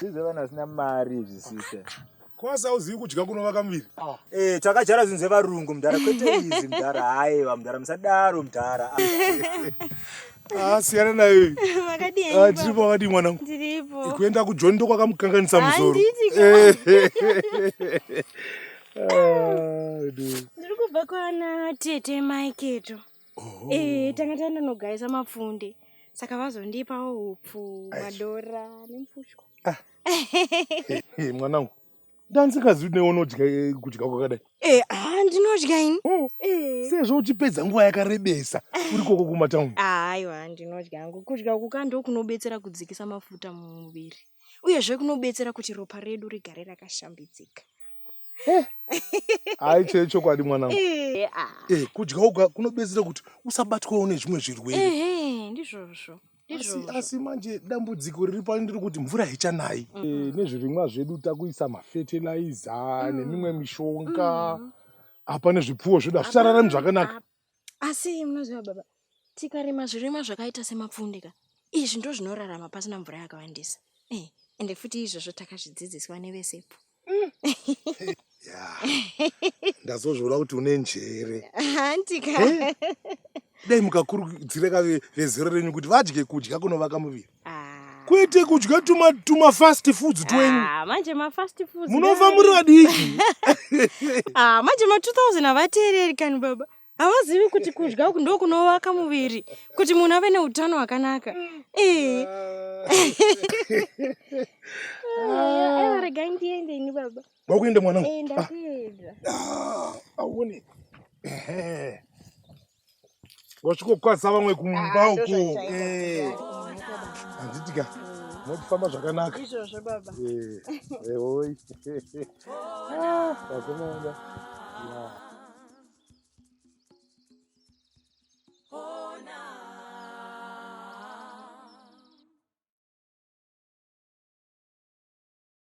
Sizve vanhu vasina mari izvi sise. Kwasa uzivi kudya kunovaka muviri. Ah. Eh, takajara zvinhu zvevarungu mdara kwete izi mdara haiwa mdara musadaro mdara. Ah, siyana nayo. Makadii? Ah, ndiripo wakadii mwanangu? Ndiripo. Kuenda kuJoni ndokwakamukanganisa musoro. Eh. Ah, Ndiri kubva kwana tete Mike to. Oh. Eh, tanga taenda nogaisa mapfunde saka vazondipawo hupfu madhora nemfushwa ah. eh, mwanangu ndandisingazivi kuti neunodya eh, kudya kwakadai eh, ah, ndinodya ini oh. sezvo uchipedza nguva yakarebesa uri koko kumatauni ah, aiwa ndinodya angu kudya uku ka ndo kunobetsera kudzikisa mafuta mumuviri uyezve kunobetsera kuti ropa redu rigare rakashambidzika hayi chee chokwadi mwanangu eh, ah. eh, kudya oga kunobetsera kuti usabatwawo nezvimwe zvirwere ndizvozvo asi, asi manje dambudziko riri pano ndiri kuti mvura haichanayi mm. e, nezvirimwa zvedu takuisa mafetilaiza mm. nemimwe mishonga mm. apa nezvipfuwo zvedu hazvichararami zvakanaka asi munoziva baba tikarima zvirimwa zvakaita semapfunde ka izvi ndo zvinorarama pasina mvura yakawandisa Eh, ende futi izvozvo takazvidzidziswa nevesepo ya ndazozviona kuti une njere hanti ka dai mukakurudzira ka ve- vezero renyu kuti vadye kudya kunovaka muviri kwete kudya tuma tuma fast foods twenyu ah, manje ma fast foods munova muri vadiki ah, manje ma 2000 havateereri kani baba havazivi kuti kudya uku ndo kunovaka muviri kuti munhu ave neutano hwakanaka eh. ah. regai ndiende ini baba wakuenda mwanangu eh, ndakuenda aone wasvikokwaza vamwe kumba ah, uko eh. handitika mokufamba zvakanaka izvozvo baba ehoi vakomana